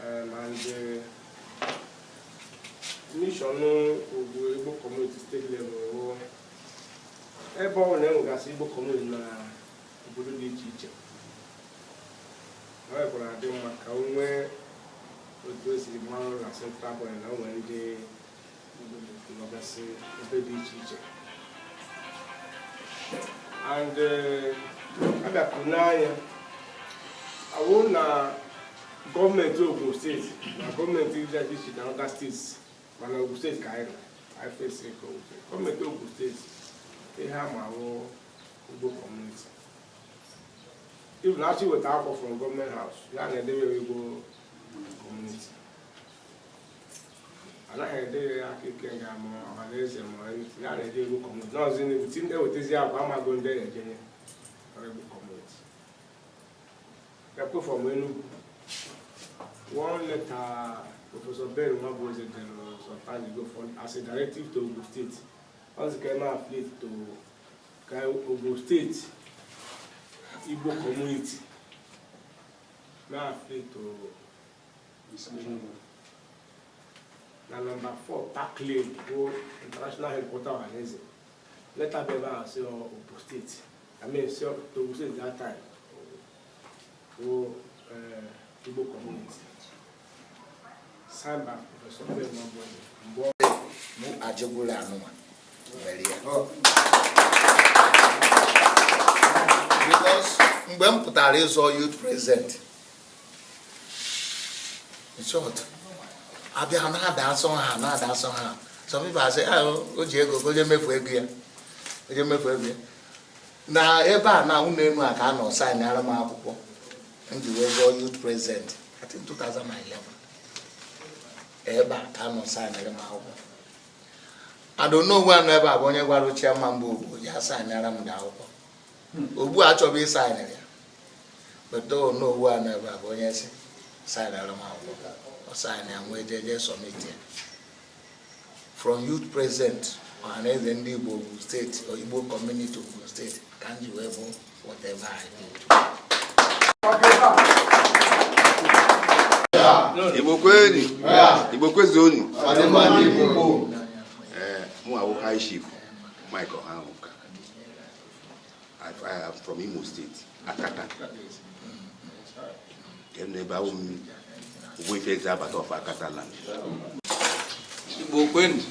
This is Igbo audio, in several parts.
Um, and the mission of the Igbo community state level, ebe ọ bụla enwegasị Igbo community na obodo dị iche iche ọ bụrụ adị mma ka o nwee otu e si ama nụ na central body na o nwere ndị and eh, abịakwu n'anya awụ na gọọmenti Ogun steeti na gọọmenti dị iche iche na other steeti mana Ogun steeti ka anyị anyị face nke ofe gọọmenti Ogun steeti ihe a ma wụ Igbo community even a chọọ iweta akwụkwọ from gọọmenti house a na-edere Igbo community anaghị edere ya Aka Ikenga ma Ọhanaeze ma ya na-edere Igbo community n'ọzi n'egwu ti ndị wetezi agwa amago ndị na-ejenye ọrụ Igbo community akwụkwọ from Enugu one letter Professor Ben Nwabueze dere some time ago for as a directive to Ogun State ọ sị ka e mee affiliate to ka Ogun State Igbo community mee affiliate to na nọmba 4 Park Lane bụ International Headquarter Ohanaeze leta bụ ebe ahụ si Ogun steeti I mean si Ogun steeti that time bụ eh, Igbo community signed by Professor Ben Nwabueze mgbe ọ mụ ajụgburu anụnwa mere ya because mgbe m pụtara ịzọ youth president abịa ha na-ada asọ ha na-ada asọ ha some people asị ah, o ji ego o je mefu ego ya o je mefu ego ya na ebe a na ụlọ elu a ka a nọ saịnara m akwụkwọ m ji wee zọọ youth president I think 2011 ebe a ka a nọ saịnara m akwụkwọ and Onowu a nọ ebe a bụ onye gwara chairman bụ Ogbu ya saịnara m the akwụkwọ Ogbu achọghị ịsaịn ya but Onowu a nọ ebe a bụ onye sị saịnara m akwụkwọ ọ saịna ya m wee jeje submit ya from youth president ọhaneze ndị igbo ogun steeti Igbo community ogun steeti ka m ji wee bụ whatever I do. Igbo kwenu Igbo kwezuonu mụ awụ high chief Mike Ohamuka I am from Imo State, Akata. Then ebe awụ m Ogbuefi Ezeabata of Akata land. Igbo kwenu.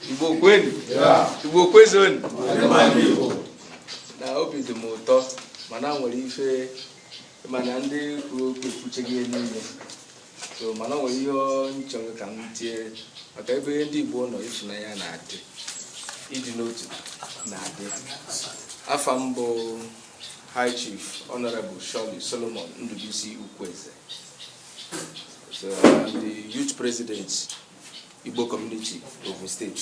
Igbo kwenu. Igbo kwezonu. Na obi dị m ụtọ mana nwere ife mana ndị kwuru okwu ekwucheghị ihe niile so mana ọ nwere ihe m chọrọ ka m tie maka ebe ndị Igbo nọ ịfụnanya na-adị ịdị n'otu na-adị afa m bụ High Chief Honorable Charlie Solomon Ndubuisi Ukwueze so the youth president Igbo community Ogun State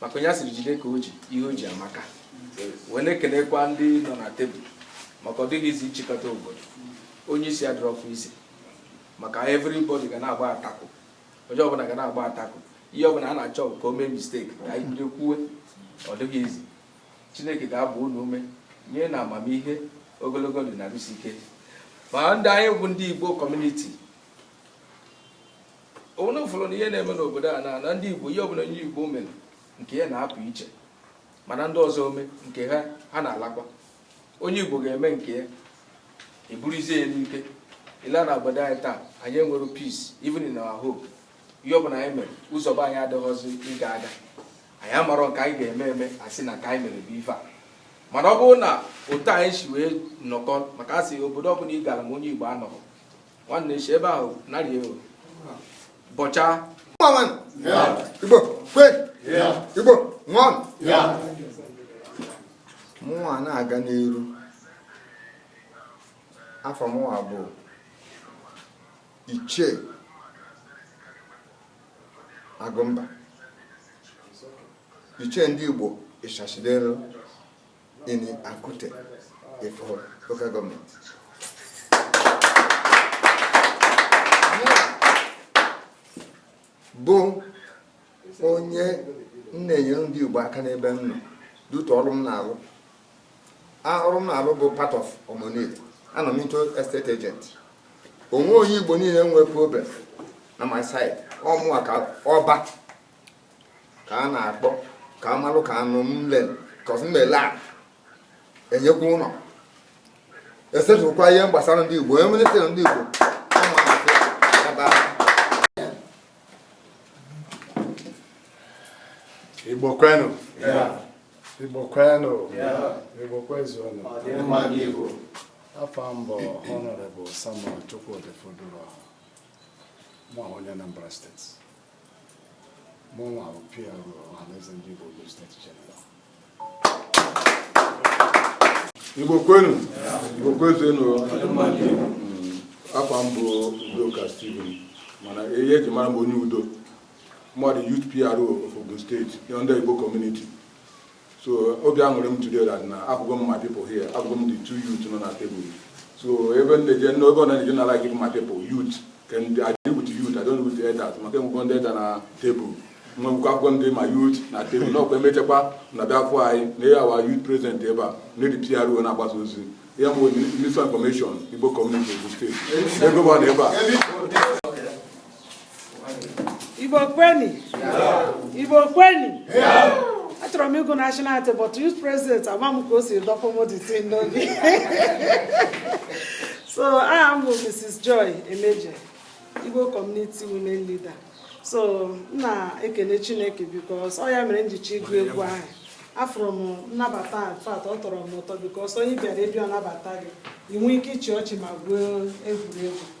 maka onye a sịrị jide ka o ji ihe o ji amaka wee na-ekelekwa ndị nọ na table maka ọ dịghị easy nchịkọta obodo onye isi adịrọkwa easy maka everybody ga na-agba attack onye ọbụla ga na-agba attack ihe ọbụla a na-achọ ka o mee mistake ka anyị bido kwuwe ọ dịghị easy chineke ga-agba unu ume nye unu amamihe ogologo ndụ na arụ isi ike ma ndị anyị bụ ndị igbo community onwere ụfọdụ na ihe na-eme n'obodo a na na ndị Igbo ihe ọbụla onye Igbo mere nke ya na-apụ iche mana ndị ọzọ ome nke ha ha na-alakwa onye Igbo ga-eme nke ya eburuzie ya n'ike i lee na obodo anyị taa anyị enwerọ peace even in our home ihe ọbụla anyị mere ụzọ be anyị adịghịzi ịga aga anyị amarọ nke anyị ga-eme eme asị na ka anyị mere bụ ife a mana ọ bụrụ na otu anyị si nwee nnọkọ maka asị obodo ọbụla ị gara ma onye Igbo anọghị nwanne si ebe ahụ narị ewu bọcha igbo kwe igbo nwa mụnwa na-aga n'iru afa mụnwa bụ ichie agụmba ichie ndị igbo Ishasi Denro in Akute Ifo local government. bụ onye m na-enyere ndị Igbo aka n'ebe m nọ due to ọrụ m na-alụ ọrụ m na-alụ bụ part of Omonile anọ m into estate agent o nwee onye Igbo niile nwee problem na my side ọ mụwa ka ọba ka a na-akpọ ka amalụ ka anụ m lele kọs m ele a enyekwa ụlọ esetụkwa ihe gbasara ndị Igbo enwere sịrị ndị Igbo Igbo kwenu Igbo kwenu Igbo kwezuonụ afa m bụ Honorable Samuel Chukwudi Foduro nwa onye Anambra steeti mụnwa bụ PRO Ọhaneze ndị Igbo Ogun steeti jeneral Igbo kwenu Igbo kwezuenu afa m bụ Udoka Stephen mana ihe eji mara m onye udo mụwa the youth PRO of Ogun steeti under Igbo community so obi aṅụrị m today that na afụgo m my people here afụgo m the two youth nọ na table so ebe m na-eje ebe ọ na-eje na like my people youth can I deal with youth I don't deal with the elders maka enwego ndị elder na table nwekwa akwụkwọ ndị my youth na table na ọkwa emechakwa na therefore anyị na ya our youth president ebe a na the PRO na-agbasa ozi ya bụ minister information Igbo community Ogun steeti ego bụ na ebe a Igbo kweni Igbo kweni achọrọ m ịgụ national anthem but youth president ama m ka o si dọpụ m the thing n'obi so aha m bụ Mrs. Joy Emeje Igbo community women leader so m na-ekene Chineke because ọ ya mere m ji chọ ịgụ egwu ahụ afụrụ m nnabata in fact ọ tọrọ m ụtọ because onye ị bịara be ya nabata gị ị nwee ike ịchị ọchị ma gwuo egwuregwu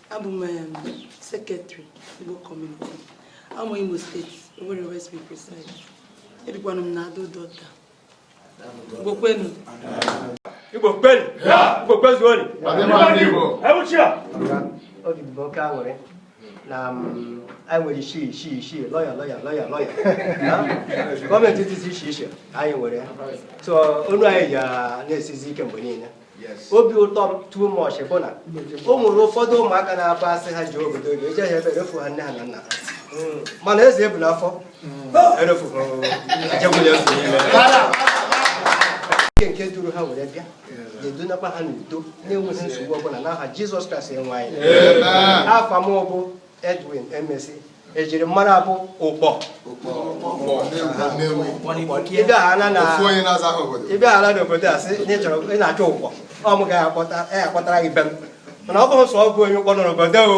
abụ m um, sekretrị Igbo kọmuniti amụ Imo steeti Owerri West be precise ebikwanụ m na Ado-Odo Ota Igbo kwenu Igbo kwenu Igbo kwezuonu ewuchia obi bụ oke aṅụrị na um, anyị nwere isi lọkal gọọmenti etiti iche iche anyị nwere so onu anyị ji na-esizi ike mgbe niile obi ụtọ m too much bụ na o nwere ụfọdụ ụmụaka na-abụ asị ha ji obodo oge eje ha ebe erefu ha nne ha na nna ha hmm. mana eze ebu n'afọ hmm. erefu ha Chineke duru ha were bịa ga-edunakwa ha n'udo na-enweghị nsogbu ọbụla n'aha Jizọs Kraịst onye nwe anyị afa m bụ Edwin Emesi ejiri m mara bụ Ụkpọ ịbịa ala n'obodo a sị na ịchọrọ ị na-achọ Ụkpọ ọ m ga-akpọtara gị be m mana ọ bụghị sọ m bụ onye Ụkpọ nọ n'obodo o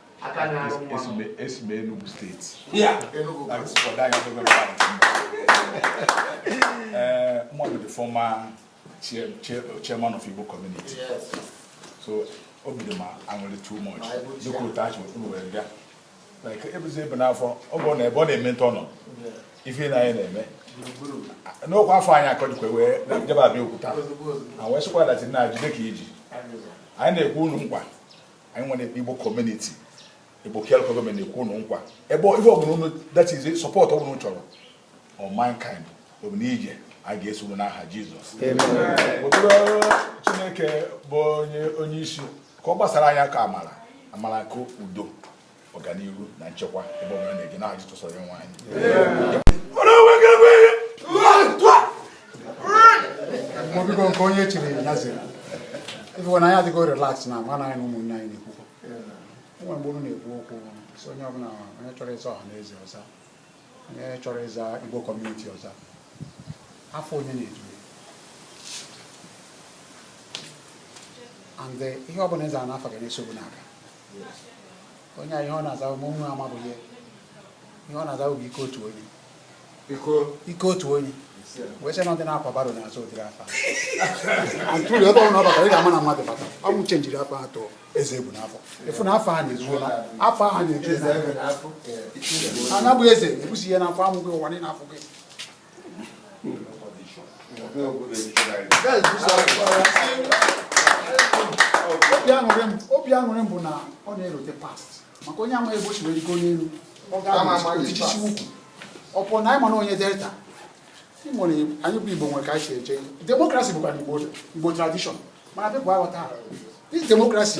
esi m Enugu steeti eh, m bụ the former chairman of Igbo community so obi dị m aṅụrị too much dịka otu achị ụkpụrụ wee bịa like ebe eze ebu n'afọ ọ bụrụ na ebe ọ na-eme ntọ nọ ife na anyị na-eme n'okwu afọ anyị akọjikwa wee jebe abịa okwuta na wee sịkwa that na jide ka i ji anyị na-ekwe unu nkwa anyị nwere igbo kọmuniti igbo care gọọmenti na-ekwe ụnụ nkwa ebe ife ọbụla ụnụ that is sọpọt ọbụla ụnụ chọrọ of mankind obi n'ije a ga-eso ụnụ n'aha jizọs chineke bụ onye isi ka ọ gbasara anyị aka amara amara nke udo ọganihu na nchekwa ebe ọbụla unu na-eje n'aha jizọs onye nwe anyị mọbiko nke onye chiri ya eze ị fụwa na anyị adịgo relax na agwa anyị na ụmụnne anyị na-ekwukọ e nwe mgbe mụ na-ekwu okwu sị onye ọbụla onye chọrọ ịza ọha na eze ọ za onye chọrọ ịza igbo kọmuniti ọ za afa onye na-edu e and ihe ọbụla ị za n'afa ga na-eso gị na-aga onye a ihe ọ na-aza mụ nwa ma bụ ihe ihe ọ na-aza bụ ike otu onye ike otu onye wee sị na ndị na-akwa baro na-aza ụdịrị afa and true ebe ọbụla ọ batara ị ga-ama na mmadụ bata ọ mụ chenjiri afa a to eze ebu n'afọ ị fụ na afa a na-ezu afa ahụ na-eju a na-ebu eze ebusịa ya n'afọ a mụọ gị ụwa niile afụ gị obi aṅụrị m bụ na ọ na-erote past maka onye amaghị ebe o si wee rigo n'elu ọ ga-agbajisi ụkwụ ọ bụrụ na ị ma na onye delta nwere anyị bụ igbo nwere ka anyị si eche demokrasi bụkwa igbo tradishọn mana bịa bụ aghọta this demokrasi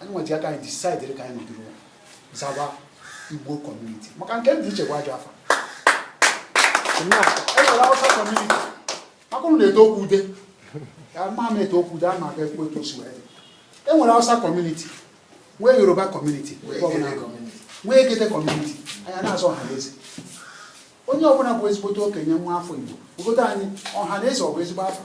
anyị nwa ji aka anyị disaidịrị ka anyị nọdụrụ zawa igbo kọmuniti maka nke ndị ichekwa ajọ afa e nwere awụsa kọmuniti maka ụnụ na-etokwude ya ma m etokwude a na-aga ekwu etu o si wee e nwere awụsa kọmuniti nwee yoruba kọmuniti nwee igede kọmuniti anyị na-aza ọha na eze onye ọbụla bụ ezigbote okenye nwa afọ igbo obodo anyị ọha na eze ọ bụ ezigbo afa